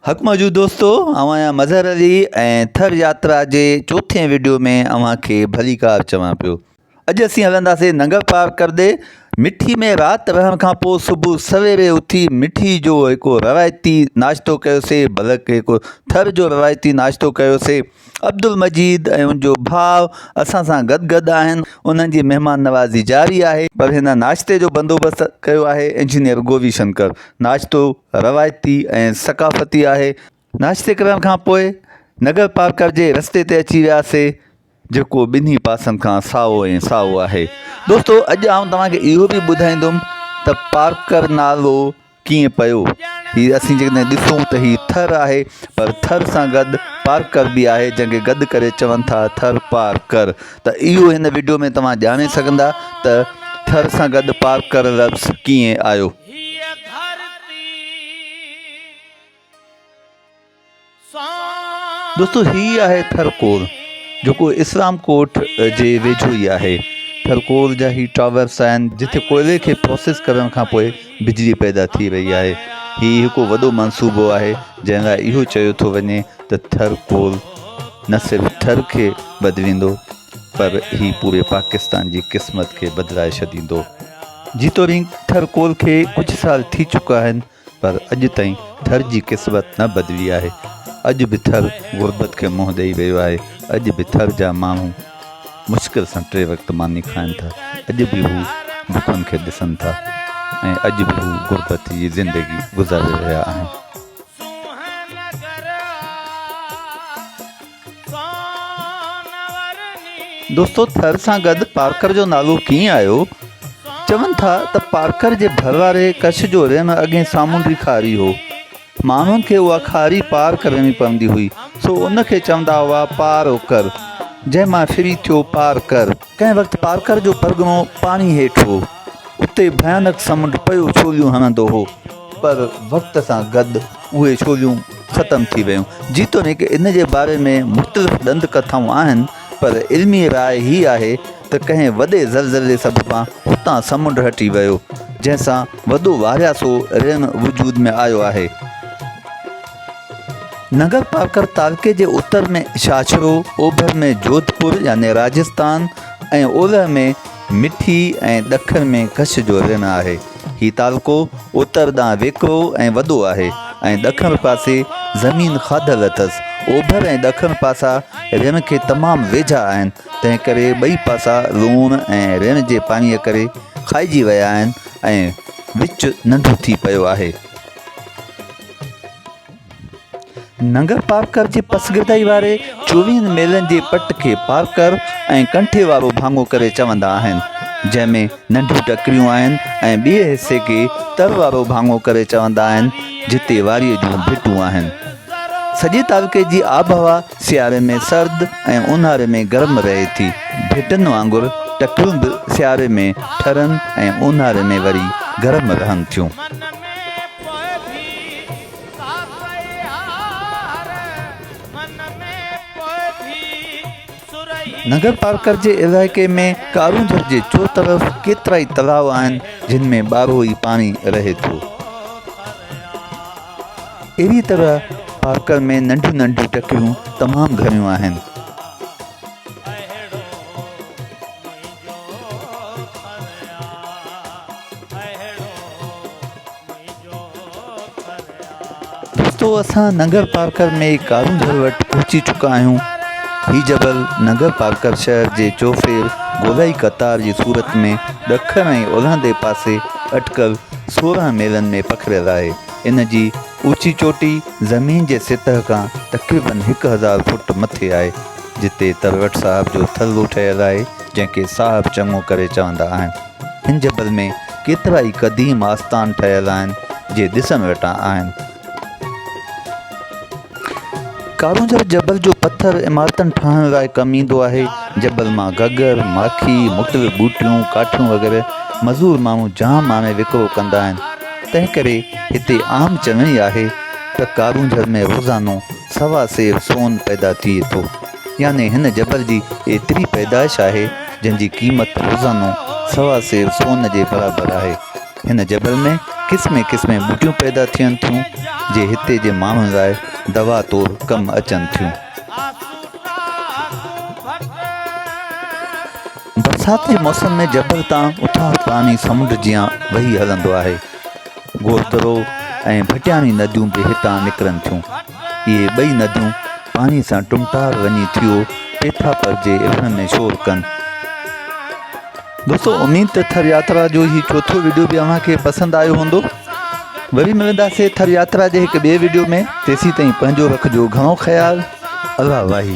حق موجود دوستو آئون آهيان مظهر علي ۽ ٿر ياترا جي چوٿين ويڊيو ۾ اوهان کي ڀليڪار چوان پيو اڄ اسين هلنداسين ننگر پار ڪردي مٺي ۾ رات رهڻ کان پوء صبح سويري اٿي مٺي جو هڪ روايتي ناشتو ڪيوسي بلڪ هڪ ٿر جو روايتي ناشتو ڪيوسي عبدالمجيد ۽ ان جو ڀاء اسان سان گڏ گڏ آهن انهن جي مهمان نوازي جاري آهي پر هن ناشتي جو بندوبست ڪيو آهي انجنيئر گوبي شنڪر ناشتو روايتي ۽ ثقافتي آهي ناشتي ڪرڻ کان پوء نگر پارڪر جي رستي تي اچي وياسي جيڪو ٻنهي پاسن کان سائو ۽ سائو آهي دوستو اڄ آئون توهان کي اهو به ٻڌائيندم ته پارڪر نالو ڪيئن پيو هي اسين جيڪڏهن ڏسون ته هي ٿر آهي پر ٿر سان گڏ پارڪر به آهي جنهن کي گڏ ڪري چون ٿا ٿر پارڪر ته اهو هن وڊيو ۾ توهان ڄاڻي سگهندا ته ٿر سان گڏ پارڪر لفظ ڪيئن آيو دوستو هي آهي ٿر ڪور جيڪو اسلام ڪوٽ جي ويجهو ئي آهي ٿر ڪور جا هي ٽاورس آهن جتي ڪوئلي کي پروسيس ڪرڻ کان پوء بجلي پيدا ٿي رهي آهي هي هڪو وڏو منصوبو آهي جنهن لاء اهو چيو ٿو وڃي ته ٿر ڪور نه صرف ٿر کي بدليندو پر هي پوري پاڪستان جي قسمت کي بدلائي ڇڏيندو جيتوڻيڪ ٿر ڪور کي ڪجهه سال ٿي چڪا آهن پر اڄ تائين ٿر جي قسمت نه بدلي آهي، اڄ به ٿر غربت کي منهن ڏئي رهيو آهي، اڄ به ٿر جا ماڻهو مشڪل سان ٽي وقت ماني کائن ٿا، اڄ به هو بکن کي ڏسن ٿا ۽ اڄ به هو غربت جي زندگي گذاري رهيا آهن. دوستو ٿر سان گڏ پارڪر جو نالو ڪيئن آيو؟ چون ٿا ته پارڪر جي ڀر واري ڪڇ جو رينهن اڳي سامونڊي کاري هو. ماڻهن کي اها کاري پار ڪرڻي پوندي هئي سو ان کي چوندا هئا پار اوڪر جنهن مان شري ٿيو پارڪر. ڪنهن وقت پارڪر جو پرڳڻو پاڻي هيٺ هو. اتي ڀيانڪ سمنڊ پيو ڇوليون هڻندو هو پر وقت سان گڏ اهي ڇوليون ختم ٿي ويون جيتوڻيڪ ان جي باري ۾ مختلف ڏند ڪٿائون آهن پر علمي راء هي آهي ته ڪنهن وڏي زلزلي سببان اتان سمنڊ هٽي ويو جنهن سان وڏو وارياسو ريڻ وجود ۾ آيو آهي نگر پارڪر تعلقي جي اتر ۾ شاهه ڇرو اوڀر ۾ جوڌپور يعني راجستان ۽ اولهه ۾ مٺي ۽ ڏکڻ ۾ ڪڇ جو رڻ آهي. هي تعلقو اتر ڏانهن ويڪرو ۽ وڏو آهي ۽ ڏکڻ پاسي زمين کاڌل اٿس. اوڀر ۽ ڏکڻ پاسا رڻ کي تمام ويجها آهن، تنهن ڪري ٻئي پاسا لوڻ ۽ رڻ جي پاڻيء ڪري کائجي ويا آهن ۽ وچ ننڍو ٿي پيو آهي. ننگر پارڪر جي پسگردائي واري چوويهن ميلن جي پٽ کي پارڪر ۽ ڪنٺي وارو ڀاڱو ڪري چوندا آهن، جنهن ۾ ننڍيون ٽڪريون آهن ۽ ٻئي حصي کي تر وارو ڀاڱو ڪري چوندا آهن، جتي واريء جون ڀٽون آهن. سڄي تعلقي جي آبهوا سياري ۾ سرد ۽ اونهاري ۾ گرم رهي ٿي. ڀٽن وانگر ٽڪريون به سياري ۾ ٺرن ۽ اونهاري ۾ وري گرم رهن ٿيون. نگرپارڪر جي علائقي ۾ ڪارونجهر جي چوطرف ڪيترائي تلاء آهن جن ۾ ٻارهوئي پاڻي رهي ٿو. اهڙي طرح پارڪر ۾ ننڍيون ننڍيون ٽڪريون تمام گهڻيون آهن. دوستو اسان ننگر پارڪر ۾ ڪارون گهر وٽ پهچي چڪا آهيون. هي جبل ننگر پارڪر شهر جي چوڦير گولائي قطار جي صورت ۾ ڏکڻ ۽ اولهندي پاسي اٽڪل سورهن ميلن ۾ پکڙيل آهي. ان جي اوچي چوٽي زمين جي سطح کان تقريباً هڪ هزار فوٽ مٿي آهي، جتي تروٽ صاحب جو ٿلهو ٺهيل آهي، جنهن کي صاحب چڱو ڪري چوندا آهن. هن جبل ۾ ڪيترا ئي قديم آستان ٺهيل آهن جي ڏسڻ وٽان آهن. ڪارونجهر جبل جو پٿر عمارتن ٺاهڻ لاء ڪم ايندو آهي. جبل مان گگر، ماکي، مختلف ٻوٽيون، ڪاٺيون وغيره مزور ماڻهو جام آڻي وڪرو ڪندا آهن. تنهن ڪري هتي عام چڱائي آهي ته ڪارونجهر ۾ روزانو سوا سير سون پيدا ٿئي ٿو. يعني هن جبل جي ايتري پيدائش آهي جنهن جي قيمت روزانو سوا سير سون جي برابر آهي. هن جبل ۾ قسمين قسمين ٻوٽيون پيدا ٿين ٿيون جي هتي جي ماڻهن لاء دوا طور ڪم اچن ٿيون. برسات جي موسم ۾ جبل تان اٿاهه پاڻي سمنڊ جيان وهي هلندو آهي. گوهترو ۽ ڀٽياڻي نديون به هتان نڪرن ٿيون. اهي ٻئي نديون پاڻي سان ٽمٽار وڃي ٿيو پيٿاپر جي اڀرن ۾ شور ڪن. دوستو اميد ته ٿر ياترا جو هي چوٿون ويڊيو به اوهان کي پسند آيو هوندو وري ملنداسي ٿر ياترا جي هڪ ٻي ويڊيو ۾ تيسي تائين پنهنجو رکجو گهڻو خيال الله واهي